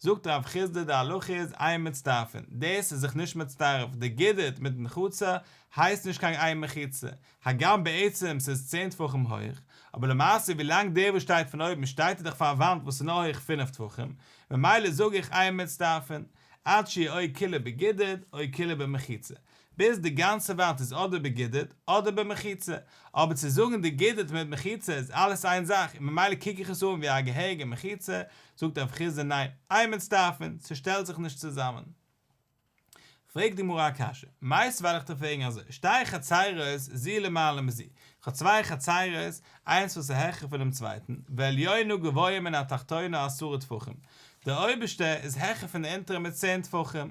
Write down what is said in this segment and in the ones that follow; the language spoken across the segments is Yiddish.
זאגט ר' חסדא די הלכה איז עיין מצטרפין, דאס איז זיך נישט מצטרף, די גידית מיט מחיצה הייסט נישט קיין עיין מחיצה, הגם בעצם ס'איז צען טפחים הויך, אבער למעשה ווי לאנג דער וואס שטייט פון אויבן שטייט איז דאך פאר א וואנט וואס איז נאר הויך פֿינף טפחים, ממילא זאג איך עיין מצטרפין, עד שיהיה אוי כולו בגידית אוי כולו במחיצה, ביז די גאנצע וואנט איז אדער בגידוד אדער במחיצה, אבער צו זאגן די גידוד מיט מחיצה איז אלעס איין זאך און ממילא קוק איך עס אן ווי א געהעריגע מחיצה, זאגט הרב חיסדא ניין, איי מצטרפין, ס'שטעלט זיך נישט צוזאמען. פרעגט די גמרא א קשיא, מאיז ווייל איך טאר פרעגן אזוי, שטייען חצרות זי למעלה מזי, איך האב צוויי חצרות, איינס וואס איז העכער פונעם צווייטן, והעליונה גבוה מן התחתונה עשרה טפחים, דער אויבערשטער איז העכער פון דער אונטערער מיט צען טפחים,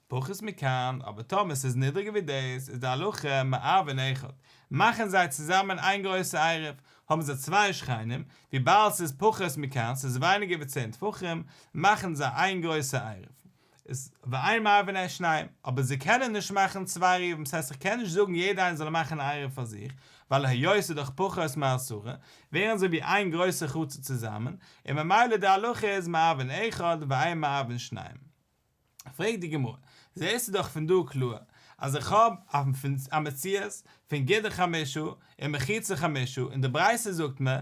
פחות מכאן, אבער טאמער ס'איז נידריגער ווי דאס, איז די הלכה מערבין אחד, מאכן זיי צוזאמען איין גרויסע עירוב, האבן זיי צוויי שכנים, וויבאלד ס'איז פחות מכאן, ס'איז ווייניגער ווי צען טפחים, מאכן זיי איין גרויסע עירוב. איז ואין מערבין את שניהם, אבער זיי קענען נישט מאכן צוויי עירובים, ס'הייסט איך קען נישט זאגן יעדער איינער זאל מאכן א עירוב פאר זיך, ווייל היות ס'איז דאך פחות מעשרה, ווערן זיי ווי איין גרויסע חצר צוזאמען, און ממילא די הלכה איז מערבין אחד ואין מערבין שניהם. פרעגט די גמרא, זעסטו דאך פון דא קלאר אז איך האב א מציאות פון גידור חמשה און מחיצה חמשה און די ברייתא זאגט מיר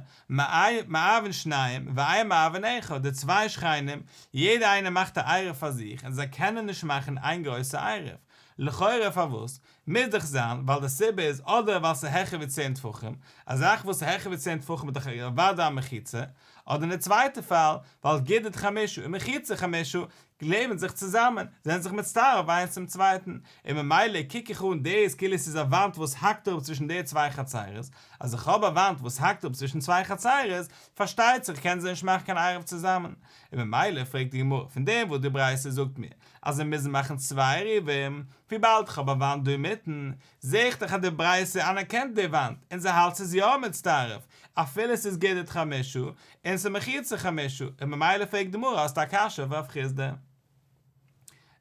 מאהבן שניים ואיה מאהבן אחד די צוויי שכנים יעדע איינער מאכט א עירוב פאר זיך און זיי קענען נישט מאכן איין גרויסע עירוב לכאורה פארוואס מוז דאך זיין ווייל די סיבה איז אדער ווייל ס'איז העכער ווי צען טפחים, א זאך וואס איז העכער ווי צען טפחים איז דאך אוודאי א מחיצה, אדער אין די צווייטע פאל ווייל גידית חמישא און מחיצה חמישא קלעבן זיך צוזאמען, זענען זיך מצטרף איינס צום צווייטן, און ממילא קוק איך אן דאס כאילו ס'איז א וואנט וואס האקט אראפ צווישן די צוויי חצרות, אז איך האב א וואנט וואס האקט אראפ צווישן צוויי חצרות, פארשטייט זיך קען זי נישט מאכן קיין עירוב צוזאמען, און ממילא פרעגט די גמרא פון דעם וואס די ברייתא זאגט מיר אז מיר מוזן מאכן צוויי עירובים, וויבאלד כ'האב א וואנט דא אינמיטן, זע איך דאך אז די ברייתא אנערקענט די וואנט, און זי האלט ס'איז יא מצטרף, אפילו ס'איז גדר חמישא, און ס'איז מחיצה חמישא, און ממילא פרעגט די גמרא האסט א קשיא אויף רב חיסדא.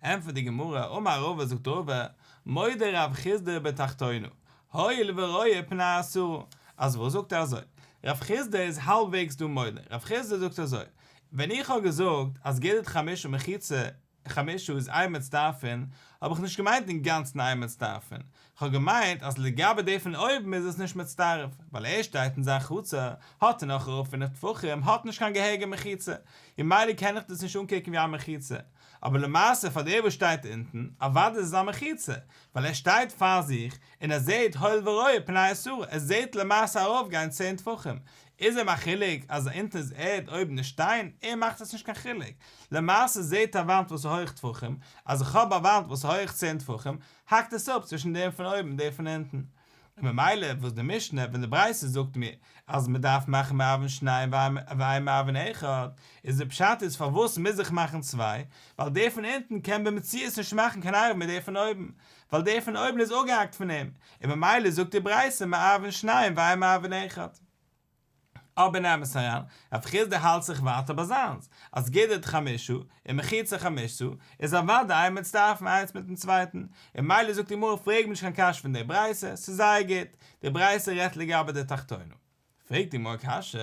ענטפערט די גמרא, אמר רבא זאגט רבא, מודה רב חיסדא בתחתונו, הואיל ורואה פני אסרו, אז וואס זאגט ער אזוי, רב חיסדא איז האלבוועגס דא מודה, רב חיסדא זאגט אזוי, ווען איך האב געזאגט אז גדת חמשה מחיצה חמשה איז איין מצטרפין, האב איך נישט געמיינט אינגאנצן איין מצטרפין, כ'האב געמיינט אז לגבי די פון אויבן איז עס נישט מצטרף, ווייל ער שטייט אין זיין חצר, האט ער נאך ארויף פינף טפחים, האט נישט קיין געהעריגע מחיצה, און מילא קען איך דאס נישט אנקוקן ווי א מחיצה, אבער למעשה פאר דער וואס שטייט אונטן, אוודאי איז עס א מחיצה, ווייל ער שטייט פאר זיך, און ער זעט הויל ורואה פני השערה, ער זעט למעשה ארויפגיין צען טפחים, איז אים א חילוק אז אונטן איז ערד אויבן איז שטיין? אים מאכט עס נישט קיין חילוק. למעשה זעהט א וואנט וואס איז הויך טפחים, אז איך האב א וואנט וואס איז הויך צען טפחים, האקט עס אפ צווישן דעם פון אויבן און דעם פון אונטן. און ממילא וואס די משנה ווען די ברייתא זאגט מיר אז מען דארף מאכן מאבן שניין ואין מאבן אחד, איז די פשט איז פארוואס מוז איך מאכן צוויי? ווייל דער פון אונטן קען במציאות נישט מאכן קיין ארבעט מיט דער פון אויבן. ווייל דער פון אויבן איז אפגעהאקט פון אים, און ממילא זאגט די ברייתא מעוון שניים ואין מעוון אחד. אבער נעמעס אריין, רב חיסדא האלט זיך ווייטער ביי זיינס, אז גידרת חמשה און מחיצה חמשה איז אוודאי איין מצטרפים איינס מיטן צווייטן, און ממילא זאגט די גמרא פרעג מיר נישט קיין קשיא פון דער ברייתא, ס'איז זייער גוט, די ברייתא רעדט לגבי די תחתונים. פרעגט אים אויך קשיא,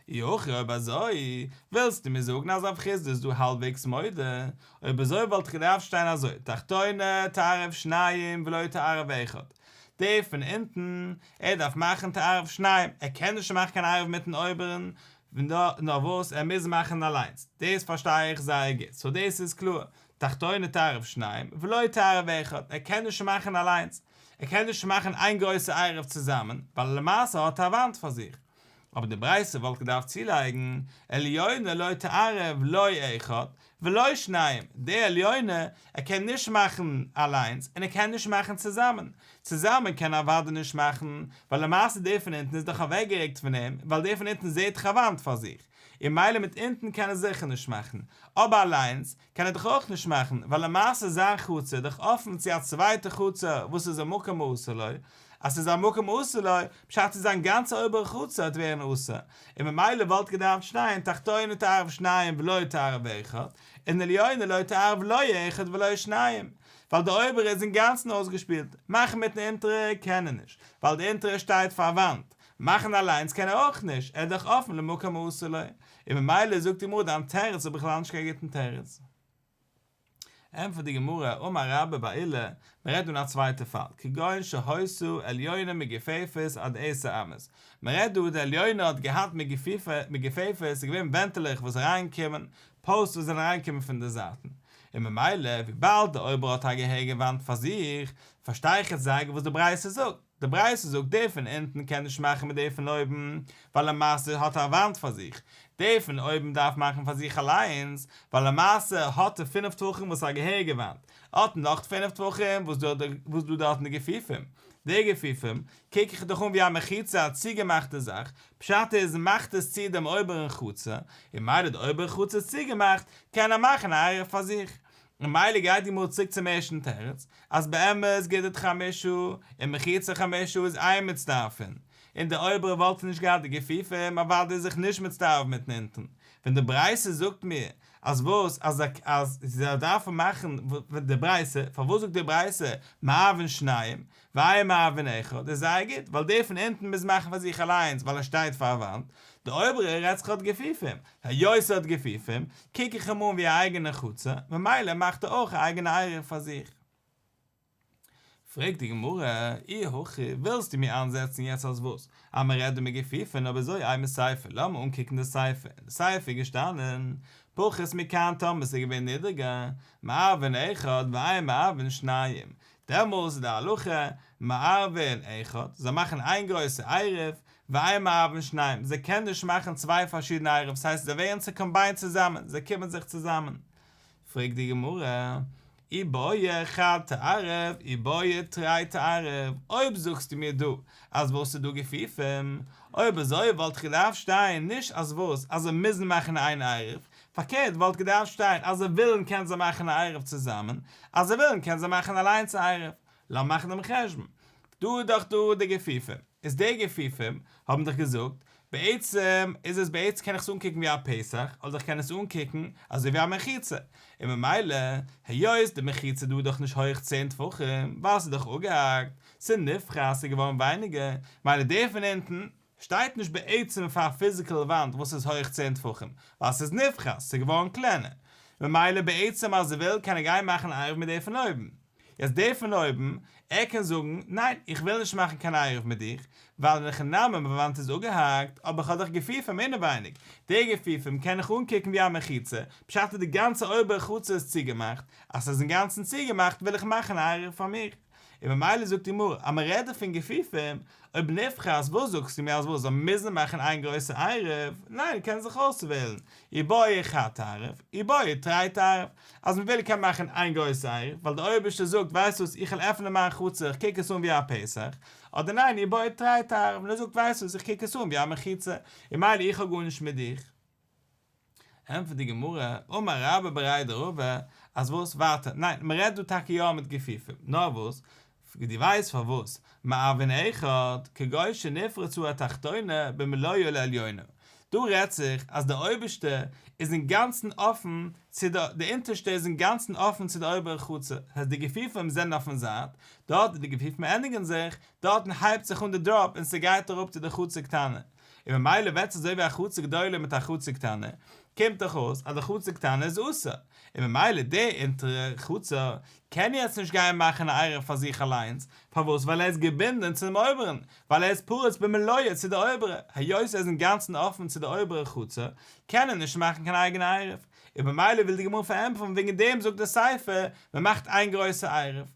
אי הכי אויב אזוי, ווילסטו מיר זאגן אז אויף חסד איז דא האלבוועגס מדה, אויב אזוי וואלט איך געדארפט שטיין אזוי, תחתונה תערב שניים ולא תערב אחד, דער פון אונטן, ער דארף מאכן תערב שניים, ער קען נישט מאכן קיין ערב מיטן אויבערן, נאר וואס ער מוז מאכן אליינס, דאס פארשטיי איך זייער גוט, סאו דאס איז קלאר, תחתונה תערב שניים ולא תערב אחד, ער קען נישט מאכן אליינס, ער קען נישט מאכן איין גרויסע עירוב צוזאמען, ווייל למעשה האט ער א וואנט פאר זיך. אבער די ברייתא וואלט געדארפט צולייגן, עליונה לא תערב לא אחד ולא שניים, די עליונה, ער קען נישט מאכן אליינס, און ער קען נישט מאכן צוזאמען. צוזאמען קען ער אוודאי נישט מאכן, ווייל למעשה די פון אונטן איז דאך אוועקגערוקט פון אים, ווייל די פון אונטן זעהט דאך א וואנט פאר זיך, און מילא מיט אונטן קען ער זיכער נישט מאכן, אבער אליינס, קען ער דאך אויך נישט מאכן, ווייל למעשה איז זיין חצר דאך אפן צו א צווייטע חצר וואס איז א מקום האסור לו, אז ס'איז א מקום האסור לו, פשט איז זיין גאנצע אויבערע חצר האט ווערן אסור, און ממילא וואלט געדארפט שטיין תחתונה תערב שניים ולא תערב אחד, און עליונה לא תערב לא אחד ולא שניים, ווייל די אויבערע איז אינגאנצן אויסגעשפילט, מאכן מיטן אונטערע קען ער נישט, ווייל די אונטערע שטייט פארוואנט, מאכן אליינס קען ער אויך נישט, ער איז דאך אפן למקום האסור לו, און ממילא זאגט די גמרא דיין תירוץ איז בכלל נישט קיין גוטן תירוץ. ענטפערט די גמרא, אמר רבא בר אילן, מען רעדט דא אין א צווייטע פאל, כגון שהוסו עליונה מגפיפות עד עשר אמות, מען רעדט דא די עליונה האט געהאט מגפיפות, ס'איז געווען ווענטעלעך וואס אריין קומען, פאוסט וואס זענען אריין געקומען פון די זייטן, און ממילא וויבאלד די אויבערע האט א געהעריגע וואנט פאר זיך, פארשטיי איך יעצט זייגער וואס די ברייתא זאגט. די ברייתא זאגט דער פון אונטן קען נישט מאכן מיט דער פון אויבן, ווייל למעשה האט ער א וואנט פאר זיך, דער פון אויבן דארף מאכן פאר זיך אליינס, ווייל למעשה האט ער פינף טפחים וואס איז א געהעריגע וואנט, ער האט נאך פינף טפחים וואס איז דא דארט אין די געפיפים, די געפיפים קוק איך דאך אן ווי א מחיצה א צוגעמאכטע זאך, פשט איז מאכט עס צו דעם אויבערן חצר, און מילא די אויבערע חצר איז צוגעמאכט, קען ער מאכן א אייער פאר זיך, ממילא גייט די גמרא צוריק צום ערשטן תירוץ, אז באמת גיטין חמישא און מחיצה חמישא איז איין מצטרפין, און די אויבערע וואלטן נישט געהאט די גופיפה און אוודאי זיך נישט מצטרף מיטן אונטן, ווען די ברייתא זאגט מיר אז וואס אז זי זאל דארפן מאכן די ברייתא, פארוואס זאגט די ברייתא מערבין שניים, וויי מאוון אחד איז זייער גוט ווייל דער פון אונטן מוז מאכן פאר זיך אליינס ווייל ער שטייט פאר א וואנט, דער אויבערער רעדט זיך האט געפיפים, היות ער האט געפיפים קוק איך אים אן ווי א אייגענע חצר ממילא מאכט ער אויך א אייגענע עירוב פאר זיך. פרעגט די גמרא, אי הכי ווילסטו מיר איינזעצן יעצט אז וואס? אז מען רעדט דא מגעפיפען אבער זוי איימער ספר לאמער אנקוקן די ספר אין די ספר איז געשטאנען פחות מכאן טאמער סאיז געווען נידערגער מאוון אחד וויי מאוון שניים דעמאלס איז די הלכה מערבין אחד, זיי מאכן איין גרויסע עירוב, ואין מערבין שניים, זיי קענען נישט מאכן צוויי פארשידענע עירובות, ס'הייסט זיי ווערן צוקאמביינט צוזאמען, זיי קומען זיך צוזאמען. פרעגט די גמרא, אי באי אחד תערב, אי באי תרי תערב, אויב זאגסטו מיר דא אז וואס איז דא געפיפים, אויב אזוי וואלט געדארפט שטיין נישט אז וואס, אז זיי מוזן מאכן איין עירוב, פארקערט וואלט געדארפט שטיין, אז זיי ווילן קען זיי מאכן א עירוב צוזאמען, אז זיי ווילן קען זיי מאכן אליינס א עירוב. לאמיר מאכן דעם חשבון. דא איז דאך דא די גופים. איז די גופים האבן דאך געזאגט, בעצם איז עס בעצם קען איך עס אנקוקן ווי א פסח, אדער איך קען עס אנקוקן אזוי ווי א מחיצה. און ממילא, היות די מחיצה דא איז דאך נישט הויעך צען טפחים, ווייל ס'איז דאך אפגעהאקט, ס'איז נפרס, ס'איז געווארן ווייניגער, ממילא די פון אונטן, שטייט נישט בעצם פאר א פיזיקעל וואנט וואס איז הויך צען טפחים, ווייל ס'איז נפחת, ס'איז געווארן קלענער. ממילא בעצם אז ער וויל קען ער גיין מאכן א עירוב מיט די פון אויבן. יעצט די פון אויבן, ער קען זאגן, ניין איך וויל נישט מאכן קיין עירוב מיט דיך, ווייל אין הכי נמי מיין וואנט איז אפגעהאקט, אבער כ'האב דאך גופים אינעווייניג, די גופים קען איך אנקוקן ווי א מחיצה, בשעת די גאנצע אויבערע חצר איז צוגעמאכט, אז ס'איז אינגאנצן צוגעמאכט וויל איך מאכן א עירוב פאר מיך. און ממילא זאגט די גמרא אז מ'רעדט דא פון גופיפים, אויב נפחא אז וואס זאגסטו מיר אז וואס זיי מוזן מאכן איין גרויסע עירוב, ניין קענען זיך אויסוועלן, איר בויער איך א תערוב, איר בויער איר טרייט עירוב, אז מ'וויל קען מען מאכן איין גרויסע עירוב, ווייל דער אויבערשטער זאגט ווייסט וואס איך וועל עפענען מיין חצר איך קוק עס אן ווי א פסח, אדער ניין איר בויער טרייט עירוב און ער זאגט ווייסט וואס איך קוק עס אן ווי א מחיצה און מילא איך האב גארנישט מיט דיך. ענטפערט די גמרא, אמר רבא בראי דרבא, אז וואס? ווארט, ניין, מען רעדט דא טאקע יא מיט גופיפים, נאר וואס? דו ווייסט פארוואס? מאבין אחד, כגוי שנפרצו התחתונה במלואו לעליונה, דא רעדט זיך אז דער אויבערשטער איז אינגאנצן אפן צו די, די אונטערשטע איז אינגאנצן אפן צו די אויבערע חצר, העסט די גופיפים זענען אויפן זייט, דארט ווי די גופיפים ענדיגן זיך, דארטן הייבט זיך אן די דראפ און ס'גייט אראפ צו די חצר קטנה, און ממילא וועט עס אזוי ווי א חצר גדולה מיט א חצר קטנה, קומט דאך אויס אז די חצר קטנה איז אסור, און ממילא די אונטערע חצר קען יעצט נישט גיין מאכן א עירוב פאר זיך אליינס, פארוואס ווייל ער איז געבינדען צו דעם אויבערן, ווייל ער איז פרוץ במילואו צו די אויבערע, היות ער איז אינגאנצן אפן צו די אויבערע חצר קען ער נישט מאכן קיין אייגענע עירוב, און ממילא וויל די גמרא פארענטפערן וועגן דעם זאגט די ספר, מען מאכט איין גרויסע עירוב.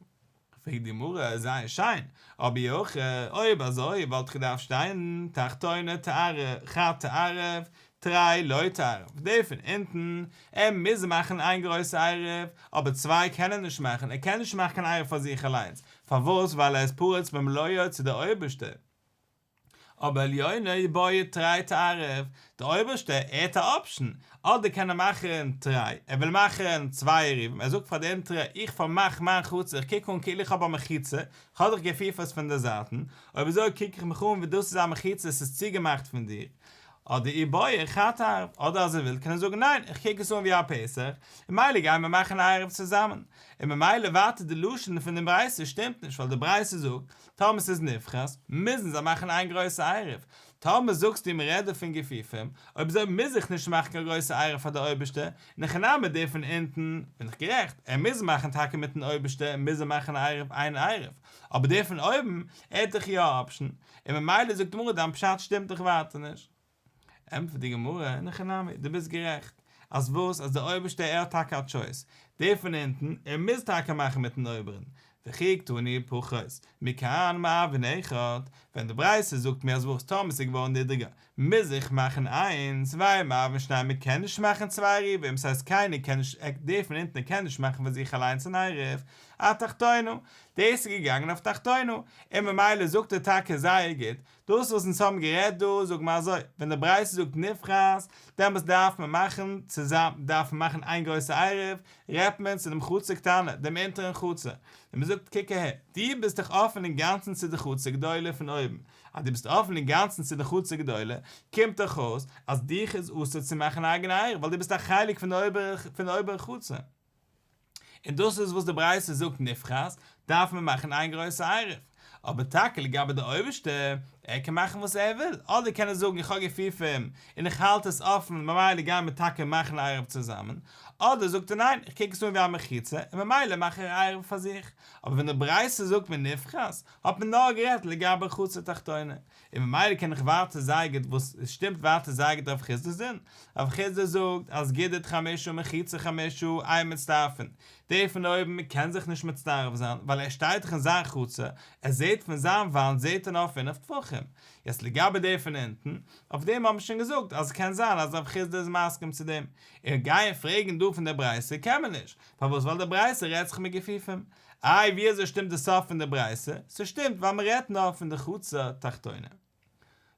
פרעגט די מראה זייער שיין, אבי אויך אויב אזוי וואלט איך געדארפט שטיין תחתונה תערב חב תערב תרי לא תערב די פון אונטן ער מוז מאכן איין גרויסע עירוב אבער צוויי קען ער נישט מאכן ער קען נישט מאכן קיין עירוב פאר זיך אליינס פארוואס ווייל ער איז פרוץ במלואו צו די אויבערשטער אבער עליונה איז בוער טריי טו ערעוו, דער אויבערשטער עדד א אפשן, אדער קען ער מאכן טריי, ער וויל מאכן צוויי עירובים, ער זאגט פאר די אונטערע, איך פארמאך מיין חצר, איך קוק אן כאילו איך האב א מחיצה, איך האב דיך געפיפערסט פון די זייטן, אויב אזוי קוק איך מיך אן ווי דאס איז א מחיצה, עס איז צוגעמאכט פון דיר, אדער איר בוער חטא ערעוו, אדער אז ער וויל קען ער זאגן ניין, איך קוק עס אן ווי א פסח, און מילא גייען מיר מאכן א ערעוו צוזאמען, און ממילא ווייטער די לשון פון דעם ברייתא שטימט נישט, ווייל די ברייתא זאגט, טאמער ס'איז נבחרת, מוזן זיי מאכן איין גרויסע עירוב. טאמער זאגסטו ווי מ'רעדט דא פון גופיפים, אויב אזוי מוז איך נישט מאכן קיין גרויסע עירוב פאר די אויבערשטע, און הכי נמי דער פון אונטן, בין איך גערעכט, ער מוז מאכן טאקע מיטן אויבערשטער מוז ער מאכן א עירוב איין עירוב, אבער דער פון אויבן, ער האט דאך יא א אפשן, און ממילא זאגט די גמרא דיין פשט שטימט דאך ווייטער נישט. ענטפערט די גמרא, אין הכי נמי, דו ביסט גערעכט, אז וואס, אז דער אויבערשטער ער האט טאקע א טשויס, דער פון אונטן, ער מוז טאקע מאכן מיטן אויבערן, וכי יקטני פחות, מכאן מאבין אחד, ווען די ברייתא זאגט מיר אז וואס, טאמער ס'איז געווארן נידריגער, מוז איך מאכן איינס, והי' מאבין שניים מען קען נישט מאכן צוויי עירובים, ס'הייסט קיינער קען נישט, דער פון אונטן ער קען נישט מאכן פאר זיך אליינס אן עירוב, התחתינו, דאס איז געגאנגען אויף תחתינו, און ממילא זאגט ער טאקע זייער גוט, דאס וואס אונז האבן גערעדט דא זאג מיר אזוי, ווען די ברייתא זאגט נבחרת, דעמאלטס דארף מען מאכן צוזאם, דארף מען מאכן איין גרויסע עירוב, רעדט מען צו דעם חצר קטנה, דעם אונטערן חצר, און מען זאגט קוק אהער, דו ביסט דאך אפן אינגאנצן צו די חצר גדולה פון אויבן, אז דו ביסט אפן אינגאנצן צו די חצר גדולה, קומט דאך אויס אז דיך איז אסור צו מאכן א אייגענע עירוב ווייל דו ביסט א חלק פון די אויבערע חצר. און דאס איז וואס די ברייתא זאגט נבחרת דארף מען מאכן איין גרויסע עירוב, אבער טאקע לגבי די אויבערשטע, ער קען מאכן וואס ער וויל, אדער קען ער זאגן איך האב געפיפים און איך האלט עס אפן ממילא גייען מיר טאקע מאכן א עירוב צוזאמען, אדער זאגט ער ניין איך קוק עס אן ווי א מחיצה און ממילא מאך איך א עירוב פאר זיך, אבער ווען די ברייתא זאגט מנבחרת האט מען נאר גערעדט לגבי חצר תחתונה, און ממילא קען איך ווייטער זייער גוט וואס עס שטימט ווייטער זייער גוט אויף חסדא זון, אבער חסדא זאגט אז גידית חמשה ומחיצה חמשה איה מצטרפין, דער פון אויבן קען זיך נישט מצטרף זיין ווייל ער שטייט דאך אין זיין חצר, ער זעט פון זיין וואנט זעט ער נאר פינף טפחים, יעצט לגבי דער פון אונטן, אויף דעם האבן מיר שוין געזאגט אז עס קען זיין אז רב חסדא איז מסכים צו דעם, און גייען פרעגן דא פון דער ברייתא קען מען נישט, פארוואס ווייל דער ברייתא רעדט זיך מיט גופים, איי ווי אזוי שטימט די סוף פון די ברייתא? ס'שטימט ווייל מ'רעדט נאר פון די חצר תחתונה.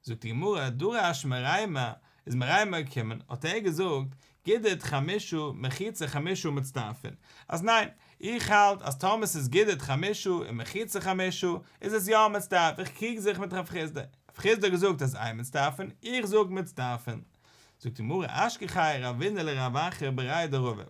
זאגט די גמרא, דרש מריימא איז מריימא געקומען האט ער געזאגט, גידית חמישא מחיצה חמישא מצטרפין, אז ניין, איך האלט אז טאמער ס'איז גידית חמישא און מחיצה חמישא איז עס יא מצטרף, איך קריג זיך מיט רב חיסדא, רב חיסדא האט געזאגט אז איין מצטרפין, איך זאג מצטרפין. זאגט די גמרא, אשכחי רבינא לרב אחר בראי' דרבה.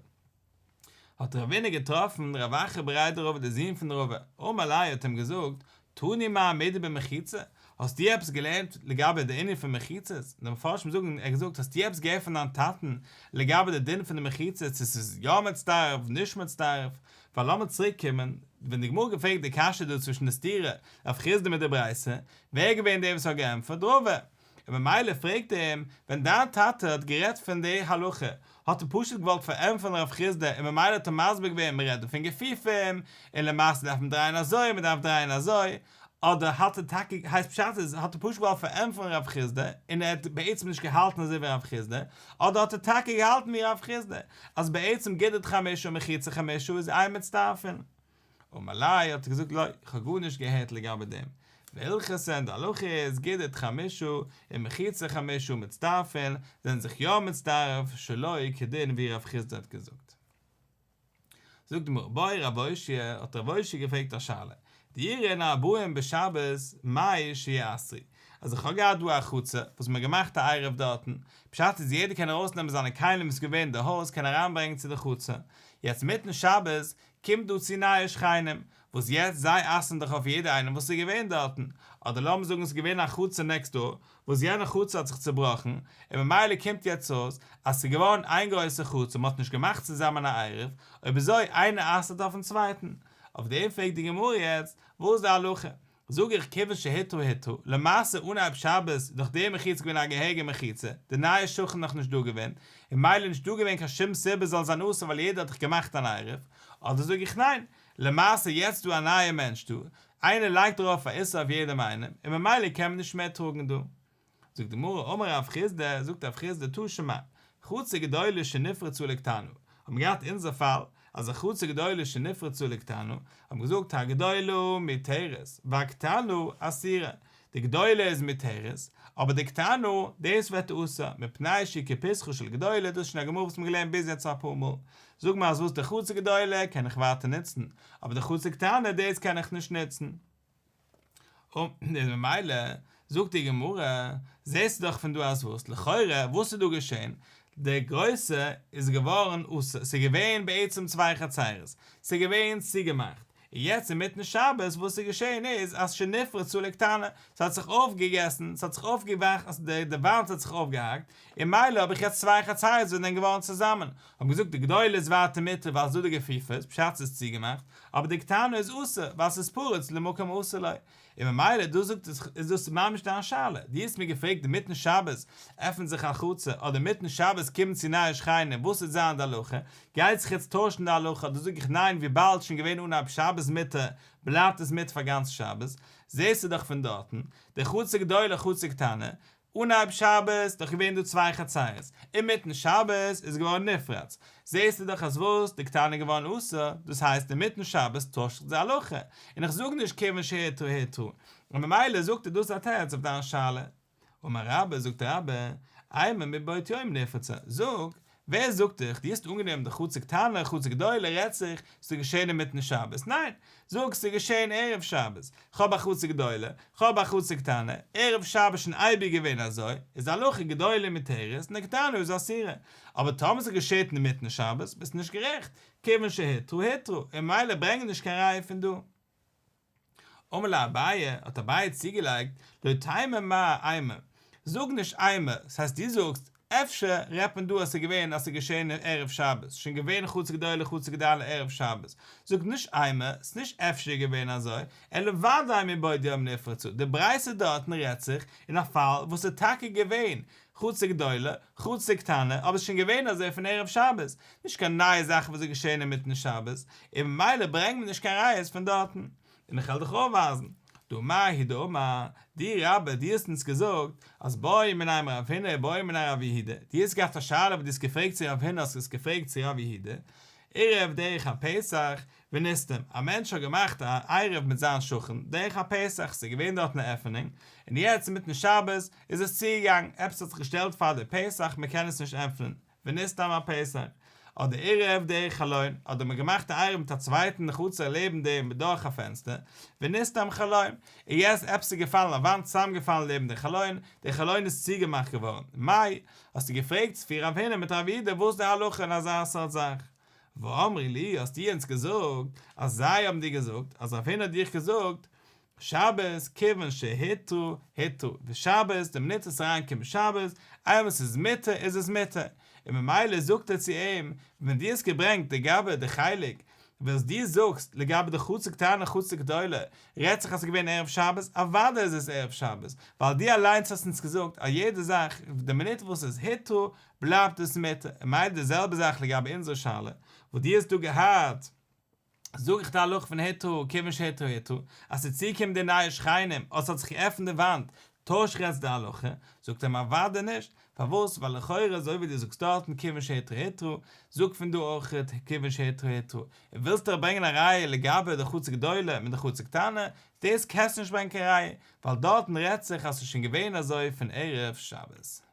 האט ר' אבינר געטראפן ר' אחר בריידעראווער דער זון פון ר' אברהם אלי' האט אים געזאגט, תני מה המדין במחיצה? האסט דו עפעס געלערנט לגבי די ענין פון מחיצות? די מפרשים זאגן ער האט געזאגט האסט דו עפעס געהערט פון דיין טאטן לגבי די דין פון די מחיצות צו עס איז יא מצטרף נישט מצטרף? ווייל לאמיר צוריק קומען ווען די גמרא געפרעגט די קשיא דא צווישן די סתירה רב חיסדא מיט די ברייתא ווער איז געווען דער וואס האט געענטפערט? ר' אברהם און ממילא פרעגט ער אים, ווען דיין טאטע האט גערעדט פון די הלכה, האט ער פשוט געוואלט פארענטפערן הרב חיסדא און ממילא האט ער מסביר געווען מען רעדט דא פון געפיפים, און למעשה דארף מען דרייען אזוי, מען דארף דרייען אזוי, אדער האט ער טאקע, הייסט פשט איז, האט ער פשוט געוואלט פארענטפערן הרב חיסדא, און ער האט בעצם נישט געהאלטן אזוי ווי הרב חיסדא, אדער האט ער טאקע געהאלטן ווי הרב חיסדא, אז בעצם גידית חמישא ומחיצה חמישא איז איין מצטרפין. אמר לי, האט ער געזאגט לא, איך האב גארנישט געהערט לגבי דעם. והלכות אין די הלכה איז גידית חמשה און מחיצה חמשה מצטרפין זענען זיך יא מצטרף שלא כדין ווי רב חיסדא האט געזאגט. זאגט די גמרא באי רב אושיה האט רב אושיה געפרעגט א שאלה דירין ארבעים בשבת מאי שיהיה עשרי אז איך האב געהאט דא א חצר וואס מ'האט געמאכט א עירוב דארטן בשעת איז יעדער קען ארויסנעמען זיינע כלים וואס איז געווען אין די הויז קען אריינברענגען צו די חצר יעצט מיטן שבת קומט דא צו נייע שכנים, וואס יעצט זיי אסר'ן דאך אויף יעדער איינעם וואס איז געווען דארטן, אדער לאמיר זאגן עס איז געווען א חצר נעקסט דאר, וואס יענע חצר האט זיך צובראכן, און ממילא קומט יעצט אויס אז ס'איז געווארן איין גרויסע חצר און מ'האט נישט געמאכט צוזאמען א עירוב, אויב אזוי איינער אסר'ט אויפן צווייטן. אויף דעם פרעגט די גמרא יעצט, וואס איז די הלכה? זאג איך כיוון שהיתר היתר, למעשה אנהייב שבת נאך די מחיצה געווען א געהעריגע מחיצה, די נייע שכן נאך נישט דא געווען, און מילא נישט דא געווען קיין שום סיבה זאל זיין אסור ווייל יעדער האט דאך געמאכט אן עירוב, אדער זאג איך ניין, למעשה יעצט דא א נייע מענטש דא, איינער לייגט ארויף א איסור אויף יעדעם איינעם, און ממילא קען מען נישט מער טראגן דא. זאגט די גמרא אמר רב חיסדא, זאגט רב חיסדא טא שמע, חצר גדולה שנפרצו לקטנה, האבן געהאט אונזער פאל, אז א חצר גדולה שנפרצו לקטנה, האבן געזאגט הגדולה מתרת והקטנה אסירה, די גדולה איז מתרת, אבער די קטנה, דאס ווערט אסור, מפני שהיא כפסחו של גדולה, דאס איז שוין א גמרא וואס מ'האט געלערנט ביז יעצט אפאר מאל, זאג מיר אז וואס די חצר גדולה קען איך ווייטער נוצן, אבער די חצר קטנה דאס קען איך נישט נוצן. און ממילא זאגט די גמרא, זעסטו דאך פון דא אז וואס? לכאורה וואס איז דא געשען? די גרויסע איז געווארן אסור, ס'איז געווען בעצם צוויי חצרות, ס'איז געווען צוגעמאכט, און יעצט אינמיטן שבת וואס איז געשען איז אז שנפרצו לקטנה, ס'האט זיך אויפגעגעסן, ס'האט זיך אויפגעוואכסן, די וואנט האט זיך אויפגעהאקט, און מילא האב איך יעצט צוויי חצאיות וואס זענען געווארן צוזאמען. האבן געזאגט די גדולה איז ווייטער מותר ווייל ס'דא די גופיפות, בשעת ס'איז צוגעמאכט, אבער די קטנה איז אסור ווייל ס'איז פרוץ למקום אסור לו. און ממילא דא זאגט עס איז דאס ממש דיין שאלה. דו האסט מיר געפרעגט אינמיטן שבת עפנט זיך א חצר אדער אינמיטן שבת קומען צו נייע שכנים וואס וועט זיין די הלכה? גייט זיך יעצט טוישן די הלכה? דא זאג איך ניין וויבאלד שוין געווען אנהייב שבת מותר בלייבט עס מותר פאר גאנץ שבת. זעסטו דאך פון דארטן. די חצר גדולה חצר קטנה. אנהייב שבת איז דאך געווען דא צוויי חצרות, אינמיטן שבת איז געווארן נפרד, זעסטו דאך אז וואס די קטנה איז געווארן אסור, דאס הייסט אינמיטן שבת טוישט זיך די הלכה, און איך זאג נישט כיוון שהיתרו היתרו, און ממילא זאגט ער דאס א תירוץ אויף דיין שאלה. אמר רבא, זאגט רבא, איימא מבעוד יום נפרצה, זאג, ווער זאגט דיך? דו האסט אנגענומען די חצר קטנה, חצר גדולה רעדט זיך, ס'איז געשען אינמיטן שבת. ניין! זאג, ס'איז געשען ערב שבת. כ'האב א חצר גדולה, כ'האב א חצר קטנה, ערב שבת שוין אייביג געווען אזוי, איז הלכה גדולה מותרת און א קטנה איז אסורה. אבער טאמער ס'איז געשעט אינמיטן שבת, ביסטו נישט גערעכט, כיוון שהיתרו היתרו, און ממילא ברענג נישט קיין ראיה פון דא. אמר לה אביי, האט אביי צוגעלייגט, לא תימא מאה איימא, זאג נישט איימא, ס'הייסט דו זאגסט, אפשר רעדט מען דא אז ס'איז געווען אז ס'איז געשען ערב שבת, שוין געווען חצי גדולה חצי גדלה ערב שבת, זאג נישט איימא, ס'איז נישט אפשר געווען אזוי, אלא ודאי מבעוד יום נפרצו, די ברייתא דארטן רעדט זיך אין א פאל וואס ס'איז טאקע געווען חוץ די גדולה, חוץ די קטנה, אבער ס'איז שוין געווען אזוי פון ערב שבת, נישט קיין נייע זאכן וואס איז געשען אינמיטן שבת, און ממילא ברענג מיר נישט קיין ראיות פון דארטן. און איך העל דיך אויפווייזן. דא מאי הידא אמר, דו רבי, דו האסט אונז געזאגט, אז באו מנין רב הונא ובאו מנין רב יהודה, דו האסט געהאט א שאלה וואס דו האסט געפרעגט צו רב הונא האסט עס געפרעגט צו רב יהודה, ערב דרך הפסח, ונסתם, א מענטש האט געמאכט א עירוב מיט זיין שכן, דורך א פסח, ס'איז געווען דארט אן עפענונג, און יעצט אינמיטן שבת איז עס צוגעגאנגען, עפעס האט זיך געשטעלט פאר די פסח, מ'קען עס נישט עפענען, ונסתם א פסח, אדער עירוב דורך חלון, אדער מ'האט געמאכט א עירוב מיט א צווייטן חצר לעבן דעם דורך א פענסטער, ונסתם חלון, און יעצט עפעס איז געפאלן א וואנט צוזאמגעפאלן לעבן די חלון, די חלון איז צוגעמאכט געווארן, מאי, האסטו געפרעגט צו פיר רבנים מיט רב אידא וואס די הלכה אין אזא סארט זאך? ואמרי לי, האסטו אונז געזאגט, אז זיי האבן דיר געזאגט, אז רבינו האט דיך געזאגט, שבת, כיוון שהיתרו, היתרו, ושבת, דער מליץ עס אריין קומען שבת, איינמאל ס'איז מותר, איז עס מותר. און ממילא זאגט ער צו אים, ווען דו האסט געברענגט לגבי די חלק, וואס דו זאגסט, לגבי די חצר קטנה און חצר גדולה, רעדט זיך אז ס'איז געווען ערב שבת, אוודאי איז עס ערב שבת, ווייל דו אליינס האסט אונז געזאגט, א יעדע זאך, די מינוט וואס ס'איז היתרו, בלייבט עס מיט און מילא די זעלבע זאך לגבי אונזערע שאלה וואס דו האסט דא געהאט, זאג איך די הלכה פון היתרו כיוון שהיתרו היתרו, אז ס'איז צוגעקומען די נייע שכנים אדער ס'האט זיך געעפנט די וואנט, טויש איך יעצט די הלכה? זאגט ער מיר אוודאי נישט, פארוואס? ווייל לכאורה אזוי ווי דו זאגסט דארטן כיוון שהיתרו היתרו, זאג פון דא אויכעט כיוון שהיתרו היתרו, און ווילסט דאך ברענגען א ראיה לגבי די חצר גדולה מיט די חצר קטנה, דאס קענסטו נישט ברענגען קיין ראיה, ווייל דארטן רעדט זיך אז ס'איז שוין געווען אזוי פון ערב שבת.